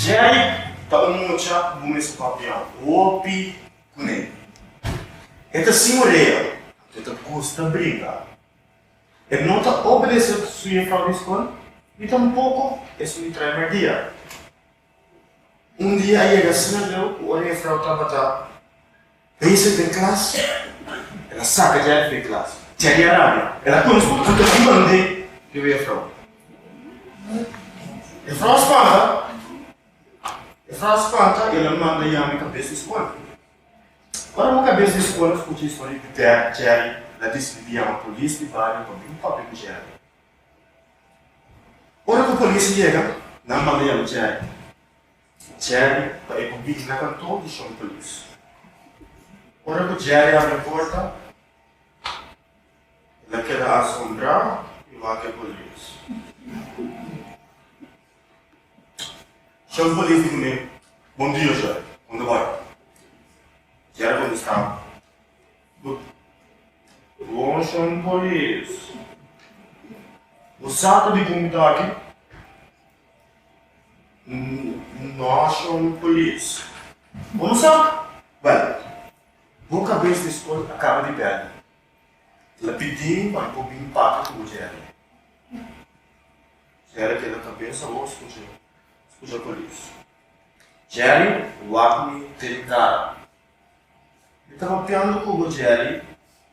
Jerry ta un mucha bo mes a papia hopi kuné. E ta sin orea, anto e ta gusta bringa. E no ta obedesé su yefrau di skol, ni tampoko esun di trae mardia. Un dia a yega asina leu ku ora e yefrau tabata. Bese den klas, el a saka Jerry den klas. Jerry a rabia. El a kono su papá ta dimand'é di un jefrou. Jefrou a spanta. Jefrou a spanta i el a manda yama e kabes di skola. Ora ku kabes di skola a skucha e historia di Jerry, Jerry a disidi yama polis di bario pa bin papia ku Jerry. Ora ku polis a yega, nan a manda yama Jerry. Jerry ta e ku Biggie na kantor di Shon Cruz. Ora ku Jerry a habri porta, el a keda asombrá i wak e polis. Shon polis di ku mi, Bon dia, Jerry. Unda bai? Jerry kontestá, Bo bon, Shon polis. Bo sa ta di ku mi ta aki? Nation Police. Bo no sa? Bel, bo kabes di skol a kaba di bel. El a pidi pa i bo bini papia ku bo Jerry. Jerry keda kabes awo skucha skucha polis. Jerry wak mi te di kara. Mi ta papiando ku bo Jerry,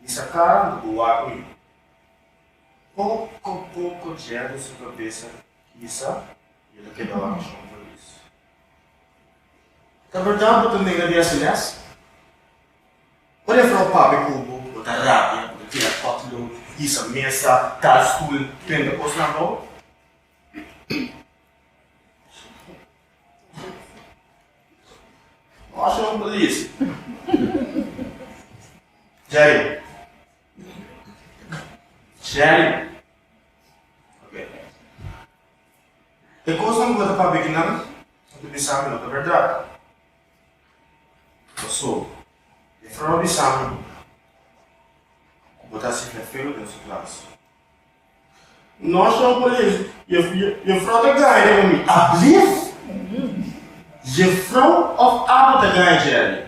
mi sa kara unda bo wak mi. Poko poko Jerry su kabesa Kisa i el a keda horashon for di eso. Ta berdad bo ta nega di hasi mes? Ora e frou papia ku bo, bo ta rabia, bo ta tira hot load, hisa mesa, tal stoel, prende kosnan bou. Horashon bo lezi. Jerry, Jerry, E kosnan bo ta papia di nan, bo ta bisa ku no ta bèrdat. Pasobra e Frau bisa mi ku bo ta hasi fèfelu den su klas. Nos nan por a e e Frau ta gana riba mi? Ablief! E Frau òf Abu ta gana Jerry?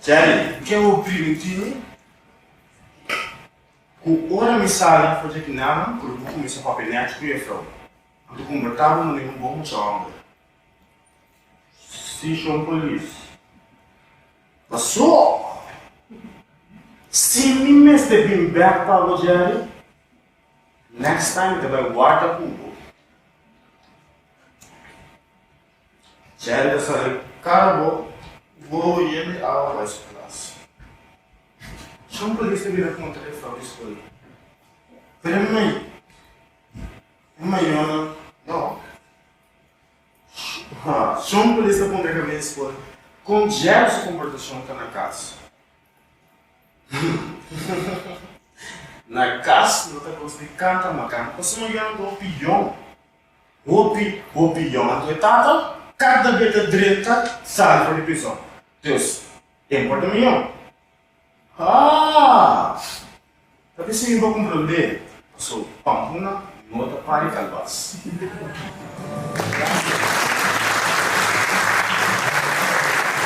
Jerry, mi ke bo primi Tini, ku ora mi sali na frontera di Nana, ku lo bo kuminsá papia nèchi ku e frou. Anto komportá bo manera un bon mucha hòmber. Sí, shon polis. Pasó! Si mi mester bin bèk pa bo, Jerry, next time mi ta bai warda ku bo. Chèlda sa di kara bo. Bo yen di awa bai su klas. Shon polista bira punta e frou di skol, pero e mai e mayonan no. Shon polista punta e kabia di skol, kon djèra su komportashon ta na kas? Na kas lo ta kos di kanta makan, pasobra mayonan ta opion Hopi, hopi yoga cu e tata. Cada be ta drenta sali for di prison. Dios, e importa mi yo? Haa! Ta bisa mi bo comprende. Paso Pampuna no ta pari calbas.